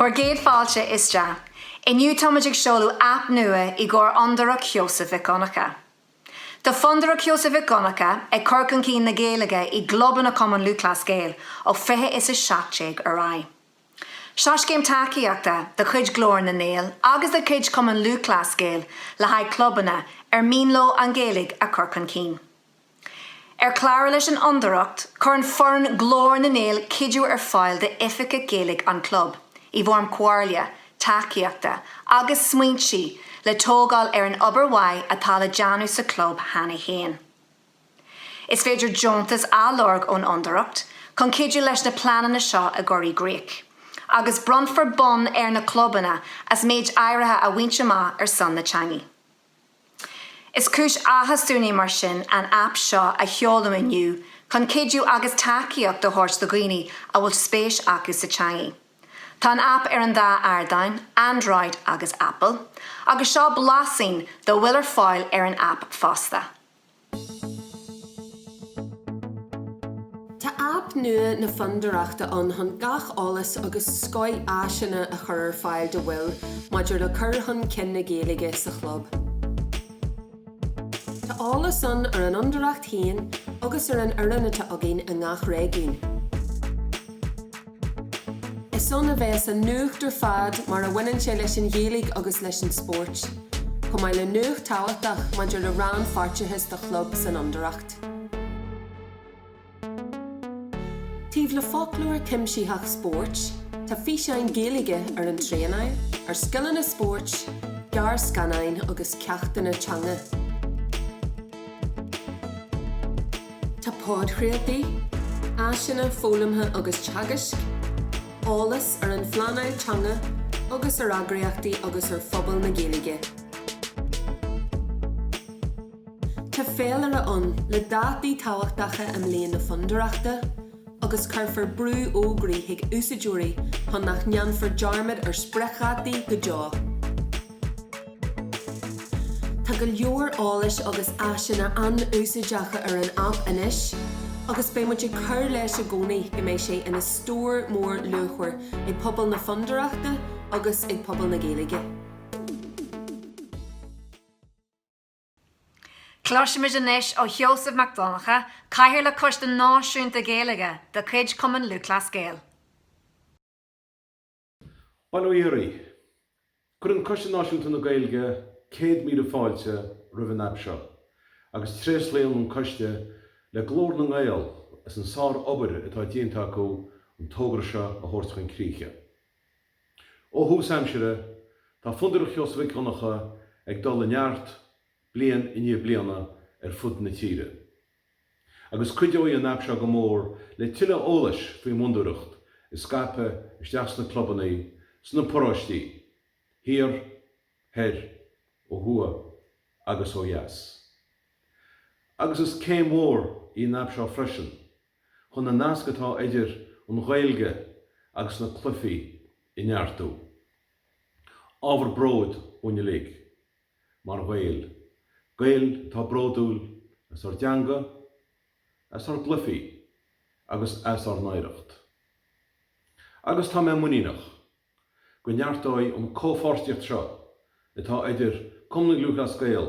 Bhur gcéad fáilte isteach! Inniu táimid ag seoladh aip nua i gcomhair Fhondúireacht Sheosaimh Mhic Dhonncha. Tá Fondúireacht Sheosaimh Mhic Dhonncha ag cur chun cinn na Gaeilge i gclubanna Chumann Lúthchleas Gael ó fiche is a seacht déag ar aghaidh. Seo scéim tacaíochta de chuid Ghlór na nGael agus de chuid Chumann Lúthchleas Gael le haghaidh clubanna ar mian leo an Ghaeilge a chur chun cinn. Ar chlárú leis an Fhondúireacht, cuireann foireann Glór na nGael cuidiú ar fáil d'oifigigh Gaeilge an chlub, i bhfoirm comhairle, tacaíochta agus smaointe le tógáil ar an obair mhaith atá á déanamh sa chlub cheana féin. Is féidir deontas a lorg ón Fhondúireacht chun cuidiú leis na pleananna seo a chur i gcrích, agus bronnfar bonn ar na clubanna as méid áirithe a bhaint amach ar son na teanga. Is cúis áthais dúinn é mar sin an aip seo a sheoladh inniu chun cuidiú agus tacaíocht a thabhairt do dhaoine a bhfuil spéis acu sa teangaidh. Tá an aip ar an dá ardán, Android agus Apple, agus seo blaiseadh dá bhfuil ar fáil ar an aip fosta. Tá aip nua na Fondúireachta ann chun gach eolas agus scoth áiseanna a chur ar fáil do bhaill maidir le cur chun cinn na Gaeilge sa chlub. Tá eolas ann ar an Fhondúireacht féin agus ar an fhoireann atá againn i ngach réigiún. Is ann a bheas an nuacht ar fad mar a bhaineann sé leis an Ghaeilge agus leis an spórt, chomh maith le nuacht thábhachtach maidir le rannpháirteachas do chlub san Fhondúireacht. Taobh le foclóir cuimsitheach spóirt, tá físeáin Gaeilge ar an traenáil, ar scileanna spóirt, gearrscannáin agus ceachtanna teanga. Tá podchraoltaí, áiseanna foghlamtha agus teagaisc, eolas ar an phleanáil teanga agus ar eagraíochtaí agus ar phobal na Gaeilge. Tá féilire ann le dátaí tábhachtacha i mbliain na Fondúireachta, agus cuirfear brúfhógraí chuig úsáideoirí chun nach ndéanfar dearmad ar spriocdhátaí go deo. Tá go leor eolais agus áiseanna an-úsáideacha ar an aip anois agus beidh muid ag cur leis i gcónaí go mbeidh sé ina stór mór luachmhar ag pobal na Fondúireachta agus ag pobal na Gaeilge. Cloisimid anois ó Sheosamh Mac Donncha, Cathaoirleach Coiste Náisiúnta Gaeilge de chuid Chumann Lúthchleas Gael. Bail ó Dhia oraibh. Cuireann Coiste Náisiúnta na Gaeilge céad míle fáilte roimh an aip seo agus tréaslaíonn an coiste le Glór na nGael as an sár-obair atá déanta acu an togra seo a thabhairt chun críche. Ó thús aimsire, tá Fondúireacht Sheosaimh Mhic Dhonncha ag dul i neart, bliain i ndiaidh bliana, ar fud na tíre. Agus cuideoidh an aip seo go mór le tuilleadh eolais faoin bhFondúireacht a scaipeadh isteach sna clubanna, sna paróistí, thiar, thoir, ó thuaidh agus ó dheas. Agus is céim mhór í an aip seo freisin chun an nasc atá idir an Ghaeilge agus na cluichí a neartú. Ábhar bróid dúinn uilig, mar Ghaeil, Gaeil atá bródúil as ár dteanga, as ár gcluichí agus as ár n-oidhreacht. Agus tá mé muiníneach go neartóidh an comhpháirtíocht seo atá idir Cumann Lúthchleas Gael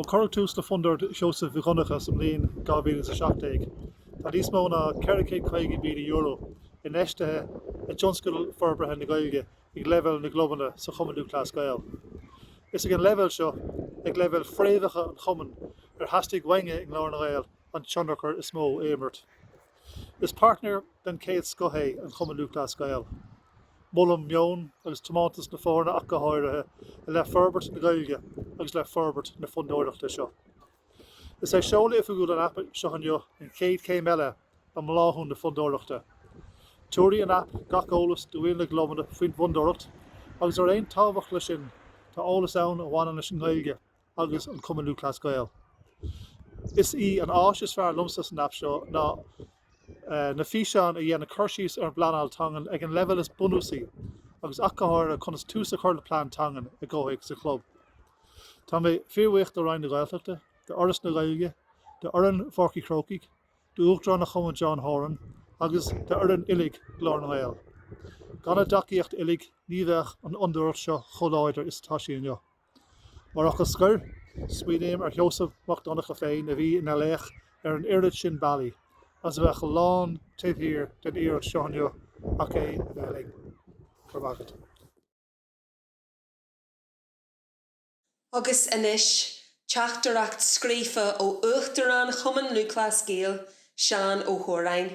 Ó cuireadh tús le Fondúireacht Sheosaimh Mhic Dhonncha sa mbliain 2017, tá níos mó ná €450,000 infheistithe i dtionscadail forbartha na Gaeilge ag leibhéal na gclubanna sa Chumann Lúthchleas Gael. Is ag an leibhéal seo, ag leibhéal fréamhacha an Chumainn, ar theastaigh uainn i nGlór na nGael an tionchar is mó a imirt. Is páirtnéir den chéad scoth é an Cumann Lúthchleas Gael. Molaim meon agus tiomántas na foirne ach go háirithe i leith forbairt na Gaeilge agus le forbairt na Fondúireachta seo. Is é seoladh oifigiúil an aip seo inniu an chéad chéim eile i mbláthú na Fondúireachta. Tabharfaidh an aip gach eolas do bhaill na gclubanna faoin bhFondúireacht agus ar aon tábhacht leis sin tá eolas ann a bhaineann leis an nGaeilge, agus an Cumann Lúthchleas Gael. Is í an áis is fearr liomsa san aip seo ná na físeáin a dhéanann cur síos ar an bpleanáil teangan ag an leibhéal is bunúsaí agus ach go háirithe conas tús a chur le plean teangan i gcomhthéacs an chlub. Tá mé fíorbhuíoch do Roinn na Gaeltachta, do Fhoras na Gaeilge, do fhoireann Pháirc an Chrócaigh, d'Uachtarán an Chumainn John Horan agus do fhoireann uilig Glór na nGael. Gan a dtacaíocht uilig ní bheadh an fhondúireacht seo chomh láidir is atá sí inniu. Mar fhocal scoir, smaoiním ar Sheosamh Mac Donncha féin a bhí ina laoch ar an oiread sin bealaí agus a bheadh lán taobh thiar den iarracht seo inniu ach é a bheith linn. Go raibh maith agat. Agus anois, teachtaireacht scríofa ó Uachtarán Chumann Lúthchleas Gael, Seán Ó hÓráin.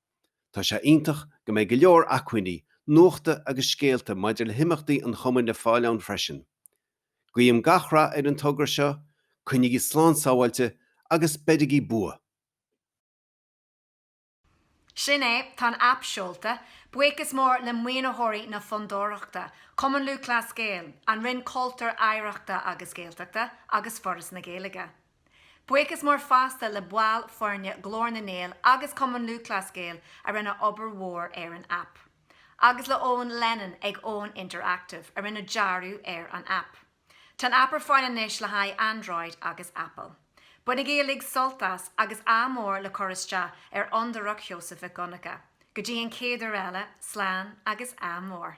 Tá sé iontach go mbeidh go leor acmhainní nuachta agus scéalta maidir le himeachtaí an Chumainn le fáil ann freisin. Guím gach rath ar an togra seo, coinnigí slán sábháilte agus beirigí bua! Sea, sin é, tá an aip seolta. Buíochas mór le maoinitheoirí na Fondúireachta, Cumann Lúthchleas Gael, an Roinn Cultúir, Oidhreachta agus Gaeltachta agus Foras na Gaeilge. Buíochas mór fosta le baill foirne Ghlór na nGael agus Cumann Lúthchleas Gael a rinne obair mhór ar an aip. Agus le Eoghan Lennon ag Own Interactive a rinne dearadh ar an aip. Tá an aip ar fáil anois le haghaidh Android agus Apple. Bainigí uilig sult as agus ádh mór le cur isteach ar Fhondúireacht Sheosaimh Mhic Dhonnacha. Go dtí an chéad uair eile, slán agus ádh mór.